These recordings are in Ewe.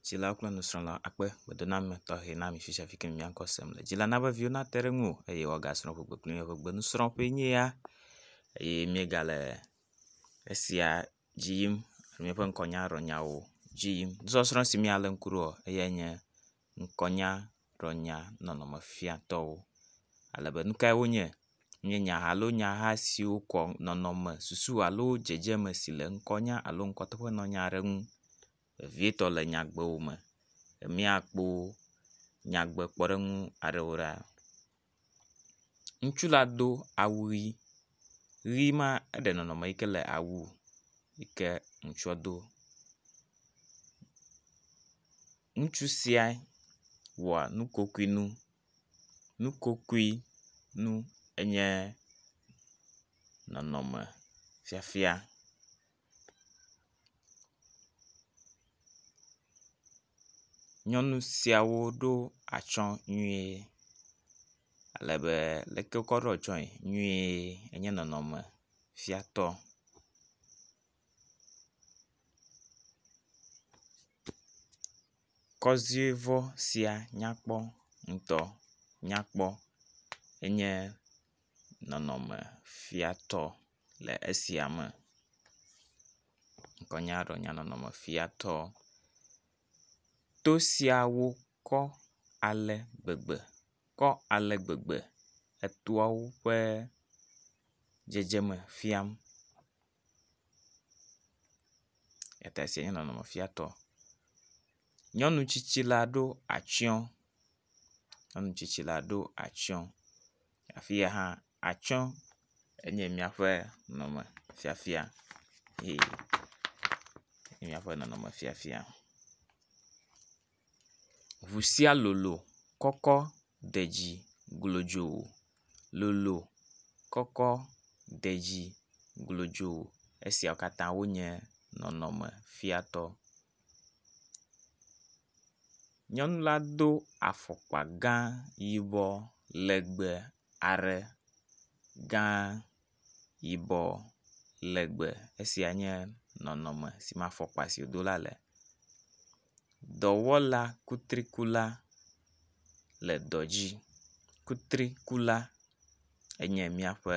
dzilawo kple nusrɔ̃lawo akpe gbedoname tɔxɛ na mi fifi ke mia ŋkɔ sem le. Dzila na be viwo nate ɖe ŋuwò eye woagasrɔ̃ ƒegbe kpli mi. Ƒegbe nusrɔ̃ƒe nye ya eye míegale esia dzi yim le míaƒe ŋkɔnyarɔnyawo dzi yim. Nusɔsrɔ̃ si míalé ŋku ɖo eyae nye ŋkɔnya. ɖɔ nya nɔnɔme fia tɔwo ale be nukae wonye nye nya alo nyaha siwo kɔ nɔnɔme susu alo dzedzeme si le ŋkɔ nya alo ŋkɔ teƒe nɔ nya ɖe ŋu vevietɔ le nyagbewo me. Emia kpo nyagbe kpɔɖeŋu aɖewo ɖa. Ŋutsu la do awu ʋi, ʋi ma eɖe nɔnɔme yi ke le awu yi ke ŋutsua do. Ŋutsu sia wɔ nukokoe nu, nukokoe nu enye nɔnɔme fiafia. Nyɔnu siawo ɖo atsɔ nyuie ale be leke wokɔ ɖo atsɔe nyuie enye nɔnɔme fia tɔ. Kɔziɔe sia nyakpɔ ŋutɔ nyakpɔ enye nɔnɔme fia tɔ. le esia me. Ŋkɔnyadrɔ̃nyanɔnɔmefiatɔ. To siawo kɔ ale gbegbe kɔ ale gbegbe etoawo ƒe dzedzeme fiam. Eya esia nye nɔnɔmefiatɔ. Nyɔnu tsitsi la ɖo atsɔ. Nyɔnu tsitsi la ɖo atsɔ. Afi ya hã atsɔ enye míaƒe nɔnɔme fiafia eye enye míaƒe nɔnɔme fiafia. Ŋu sia lolo kɔkɔ de dzi glodzo lolo kɔkɔ de dzi glodzo. Esia katã wonye nɔnɔme fiatɔ. Nyɔnu la do afɔkpa gã yibɔ legbe are gã yibɔ legbe. Esia nye nɔnɔme si me afɔkpa si wodo la le. Dɔwɔla kutrikula le dɔ dzi. Kutrikula enye míaƒe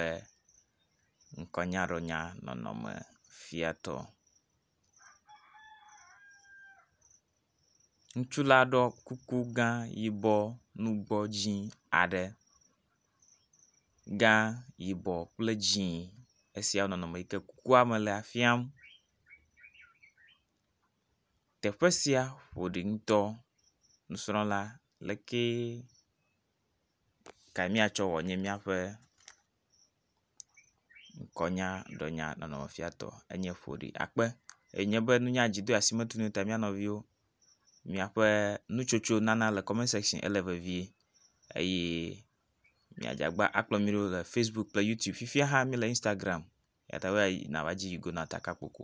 ŋkɔnyaɖɔnya nɔnɔmefiatɔ. Ŋutsu la ɖɔ kuku gã yibɔ nugbɔ dzĩ aɖe. Gã yibɔ kple dzĩ esia wo nɔnɔme yi ke kukua me lea fiam. Teƒe sia ƒo ɖi ŋutɔ. Nusrɔ̃la lekee kae miatsɔ wɔ nye miaƒe. ŋkɔnya ɖenya nɔnɔme fiatɔ enye ƒoɖi akpe eye nye be nunya dzi do asi metu nu ta mía nɔviwo miaƒe nutsotso nana le comment section ele vevie eye miadze agba akplɔ mí ɖo le Facebook kple YouTube fifia hã mí le Instagram eyata be nava dzi yi go na takpakpɔ ko.